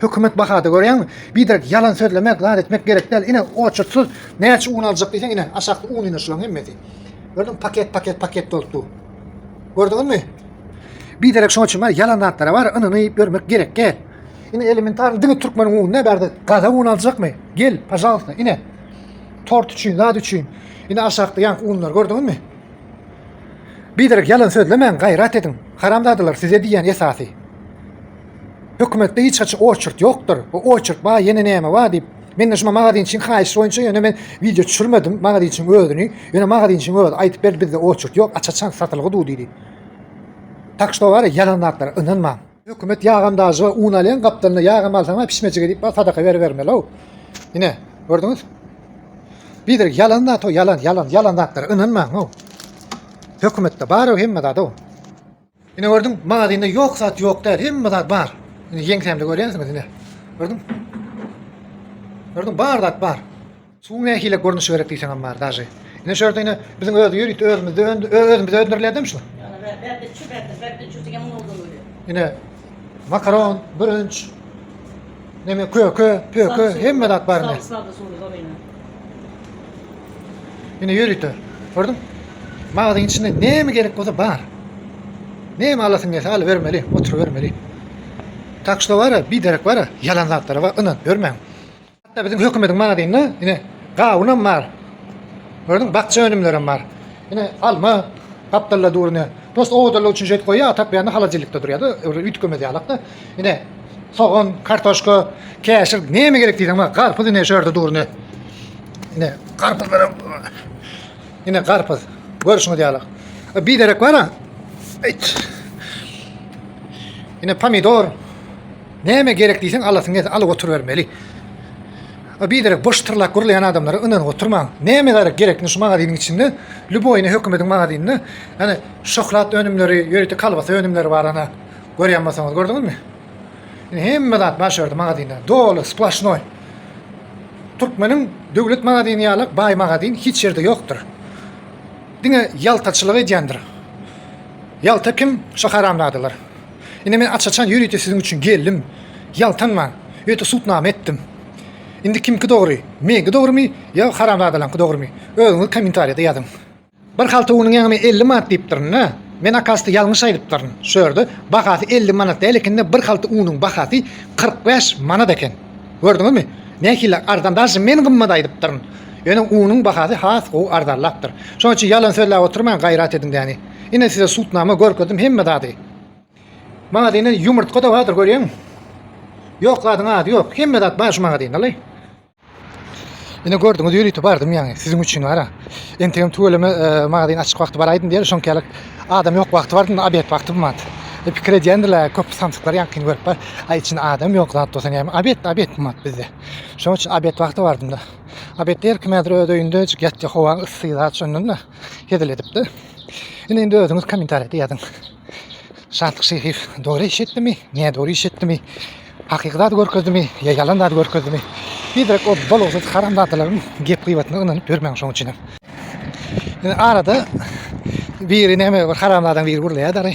Hökümet bahada görýäňmi? Biderek ýalan sözlemek, zat etmek gerek däl. Ine, oçurtsyz näçe un aljak diýseň, ine, aşakda un ine şulaň hemmesi. Gördüň, paket, paket, paket bolup dur. Gördüňizmi? Biderek şoň üçin bar, ýalan zatlara bar, ynany görmek gerek däl. Ine, elementarny diňe türkmeniň ununa bärde gaza un aljakmy? Gel, pajalsa, ine. Tort üçin, zat üçin. Ine, aşakda ýaňky unlar gördüňizmi? Biderek ýalan sözlemäň, gaýrat ediň. Haramzadalar size diýýän esasy. Hökümetde hiç haçan oçert ýokdur. O oçert ba ýene näme ba diýip. Mende şuma magazinçiň haýyşy boýunça ýöne men wideo düşürmedim magazinçiň özüni. Ýöne magazinçiň özi aýdyp berdi bizde oçert ýok aç-açan satylgy du diýdi. Tak şo bar ýalan zatlara ynanmaň. Hökümet ýagam dažy we un alýan gapdalynda ýagam alsaň ba pişmejige diýip ba sadaka beribermeli-ow. Ine gördüňiz. Biderek ýalan zat o ýalan ýalan ýalan zatlara ynanmaň-ow. Hökümetde bar-ow hemme zat-ow. Ine gördüň, magazinde ýok zat ýok däl, hemme zat bar. Ine ýeňsämde görýänsiňiz ine. Gördüň? Gördüň, bar zat bar. Suwuň nähili görnüşi gerek diýseňem bar daže. Ine şu ýerde ine biziň öz ýörite özümizde özümizde öndürilýär-demi şu? Ýa, bärde çübärde, bärde çübärde ýaňy bolsa bolýar. Ine, Makaron, bürünç, neme köke, pöke, hemme zat bar indi. Salsady suwly gorine. Ine ýörite. Gördüň? Magazyň içinde näme gerek bolsa bar. Näme alasyň gelse alyp bermeli, oturyp bermeli. Tak şu bara, bir derek bara, ýalan zatlara bar, ynanyp ýörmäň. Hatda biziň hökümediň magazynynda ine gawunam bar. Gördüňmi? Bakja önümlerem bar. Ine alma, gapdalda dur ine. Prosta owadanlyk üçin şeýdip goýýar, a tak beýlende halajelnikde durýar-da, öwre üýtgemez ýalak-da. Ine sogan, kartoşka, käşir näme gerek diýseň bar. Garpyz ine şu ýerde dur ine. Ine garpyzlaram Ine garpyz. Görüşiňiz ýaly. E, bir derek bar-a. Ine pomidor. Näme gerek diýseň alasyň gelse alyp oturybermeli. A biderek boş tyrlap gürleýän adamlara ynanyp oturmaň. Näme gerek gerek indi şu magazynyň içinde lýuboýyny hökümediň magazynynda ýani şoklat önümleri ýörite kolbasa önümleri bar ana görýän bolsaňyz gördüňizmi. Indi hemme zat bar şu ýerde magazynda doly sploşnoý. Türkmeniň döwlet magazyny ýaly baý magazyn hiç ýerde ýokdur. Diňe ýaltaçylyk edýändir. Ýalta kim? Şu haramzadalar. Ine men aç-açan ýörite siziň üçin geldim. Ýaltanman, öýte sud name etdim. Indi kimki dogry, meňki dogrymy ýa haramzadalaňky dogrymy, özüňiz kommentariýada ýazyň. Bir halta unuň ýangymy elli manat diýipdirin-dä. Men akasda ýalňyş aýdypdyryn. Şu ýerde bahasy elli manat däl eken-de bir halta unuň bahasy kyrk bäş manat eken. Gördüňizmi? Nähili arzan daşy men gymmat aýdypdyryn. Ýöne unuň bahasy has gowy arzanlapdyr. Şonuň üçin ýalan sözläp oturmaň gaýrat ediň däni. Ine size sud name görkezdim hemme zady. Magazinde yumurtka da vardır görüyorsun. Yok zaten adı yok. Hemme zat var şu magazinde lay. Yine gördüňüz ýörite bardym ýaňy siziň üçin wara. Entegem tüweleme e, magazin açyk wagty baraýdym diýer, şonkälik adam ýok wagty bardym, obed wagty bilmän. E, pikir edýändiler, köp samsyklar ýaňkyny görüp bar. Aý içinde adam ýok zat bolsa näme, obed, obed bilmän bizde. Şonuň üçin obed wagty bardym da. Obed der kim häzir öz öýünde ýatýa howa ysy zat şondan da. hezil edipdi. Indi indi özüňiz kommentariýada ýazyň. Şatlyk Şehiýew dogry iş etdimi, ne dogry iş etdimi, hakyky zady görkezdimi, ýa ýalan zady görkezdimi? Bizrek o bolgusyz haramzadalaryň gep-gybatyna ynanyp ýörmäň şoň üçinem. Indi arada biri näme bir haramzadaň biri gürleýär dary.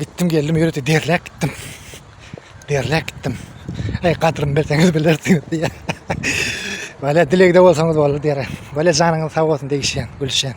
Gitdim geldim ýörite derläp gitdim. Derläp gitdim. Eý gadrym bilseňiz bilersiňiz diýýär. Wala dilegde bolsaňyz boldy diýýär. Wala janyňyz sag bolsun degişýän, gülüşýän.